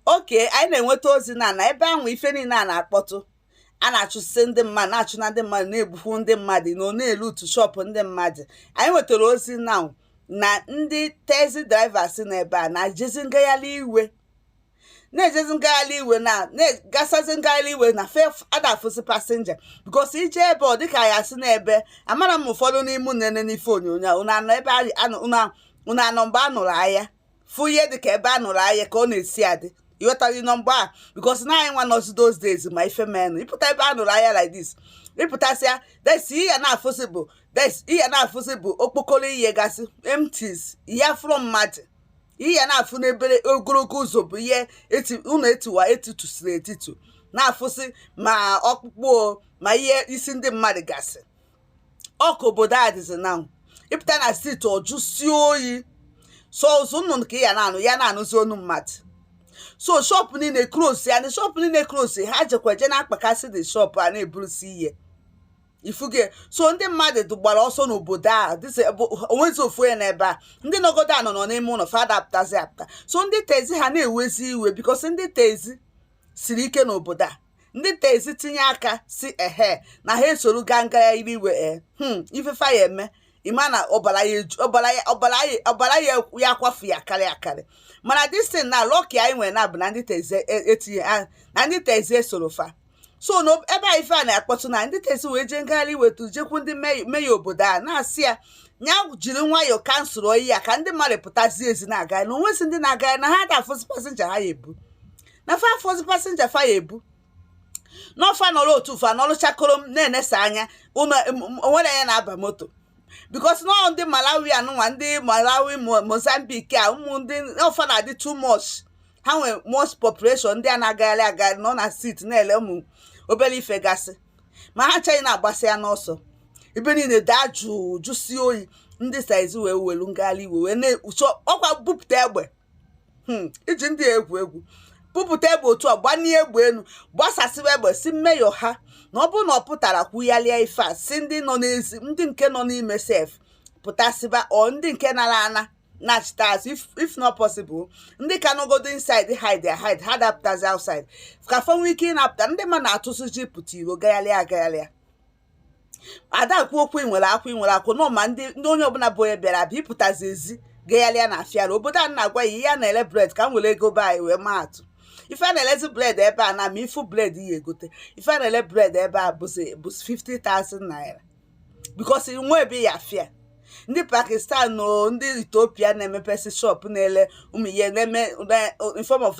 okay anyị na-enweta ozi na na ebe ahụ ife niile a na-akpọtụ a na-achụsị ndị mmadụ na-achụ na ndị mmadụ na-egbukwu ndị mmadụ na ọ na-eluutu shọpụ ndị mmadụ anyị nwetara ozi na na ndị taxi drivers na ebe a na-ejezi ngagharị iwe na-ejezi ngagharị iwe na na-agasazi ngagharị iwe na fa ada afụzi passenger because ị je ebe ọ dịka ya si n'ebe amara m ụfọdụ n'ime nene n'ife onyonyo unu anọ ebe unu anọ mgbe a nụrụ aya fụ ihe dị ka ebe a nụrụ aya ka ọ na-esi adị ịghọtaghị nọmba a because na anyị nwa nọzi those days ma ife menụ ị pụta ebe a nụrụ aya like this ịpụtasịa des ihe na-afụsị bụ des ihe na-afụsị bụ okpokoro ihe gasị empties ị ya afụrọ mmadụ ihe na-afụ n'ebere ogologo ụzọ bụ ihe ụlọ etiwa etitusiri etitu na-afụsị ma ọkpụkpụ ma ihe isi ndị mmadụ gasị ọ ka obodo a dịzi na ị pụta na street ọ jụsie oyi sọ ụzụ nnụnụ ka ị ya na-anụ ya na-anụzi onu mmadụ so shọpụ niile close ya na shọpụ niile close ha jekwa je na-akpakasị ndị shọpụ a na-eburusi ihe ị fụgo so ndị mmadụ gbara ọsọ n'obodo a onwezi ofu onye n'ebe a ndị nọgodo a nọ nọ n'ime ụlọ fa ada apụtazi apụta so ndị taxi ha na-ewezi iwe because ndị taxi siri ike n'obodo a ndị taxi tinye aka sị ehe na ha esoro gaa ngagharị iwe ee eh, hmm, ife fa ya eme ị ma na ọbara ya ya kwafu ya karị akarị mana this thing na lucky anyị nwere na bụ na ndị taxi etinye e na ndị taxi esoro fa so ebe a ife a na-akpọtụ na ndị taxi wee jee ngagharị iwetu jekwu ndị mayor obodo a na-asị ya ya jiri nwayọọ cancelụọ ya ka ndị mmadụ pụtazie ezi na-agagharị na onwezi ndị na-agagharị na ha da-afụzi passenger ha ya ebu na fa afụzi passenger fa ya ebu na ọ fa nọrọ otu fa nọrọ chakoro m na-enesa anya onwere ya na-aba moto because na ọ ndị malawi anụnwa ndị malawi mozambique a ụmụ ndị ọ fa na-adị too much ha nwere most population ndị a na-agagharị agagharị nọ na street na-ele ụmụ obere ife gasị ma ha ncha na-agbasịa n'ọsọ ebe niile daa jụụ jụsie oyi ndị taxi wee welu ngagharị iwe wee na-ekpuchi ọkwa bupụta egbe hmm, iji ndị egwu egwu bupụta egbe otu a gbanie egbe elu gbasasịwa egbe sị mayor ha na ọ bụrụ na ọ pụtara kwugharịa ife a sị ndị nọ n'ezi ndị nke nọ n'ime sef pụtasịba or ndị nke nara ana nachita azụ if not possible ndị ka nọgodo inside hide hide ha da-apụtazi outside ka fa nwee ike ịna-apụta ndị mmadụ na-atụzi ụjọ ịpụta iro gagharịa agagharịa a da-ekwu okwu ị nwere akwụ ị nwere akwụ nọ ma ndị ndị onye ọbụla bụ onye bịara abịa ị pụtazie ezi gagharịa na afịara obodo a na-agwa ya ihe a na-ele bread ka m were ego be anyị wee maa atụ ife a na-elezi bread ebe a na ma ịfụ bread ị ya-egote ife a na-ele bread ebe a bụzi bụzi 50,000 naira because e nwe ebe ya afịa ndị pakistan na ndị ethiopia na-emepesi shop na-ele ụmụ ihe na-eme na- in form of